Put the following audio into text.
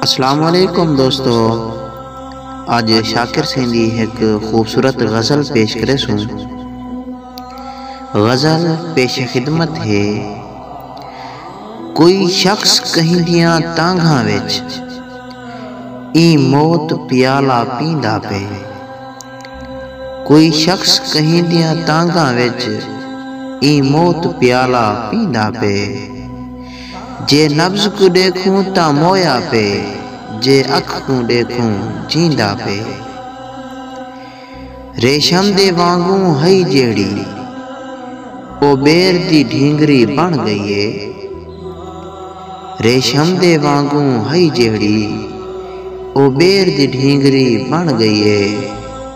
اسلام علیکم دوستو اج شاکر سیں دی ہک خوبصورت غزل پیش کرے سوں غزل پیش خدمت ہے کوئی شخص کہیں دیاں تانگھاں وچ ای موت پیالہ پیندا پے کوئی شخص کہیں دیاں تانگھاں وچ ای موت پیالہ پیندا پے جے نبض کوں ݙیکھوں تاں مویا پئے جے اکھ کوں ݙیکھوں جیندا پئے ریشم دے وانگوں ہئی جیڑھی او ٻیر دی ڈھینگری بݨ ڳئی اے ریشم دے وانگوں ہئی جیڑھی او ٻیر دی ڈھینگری بݨ ڳئی اے۔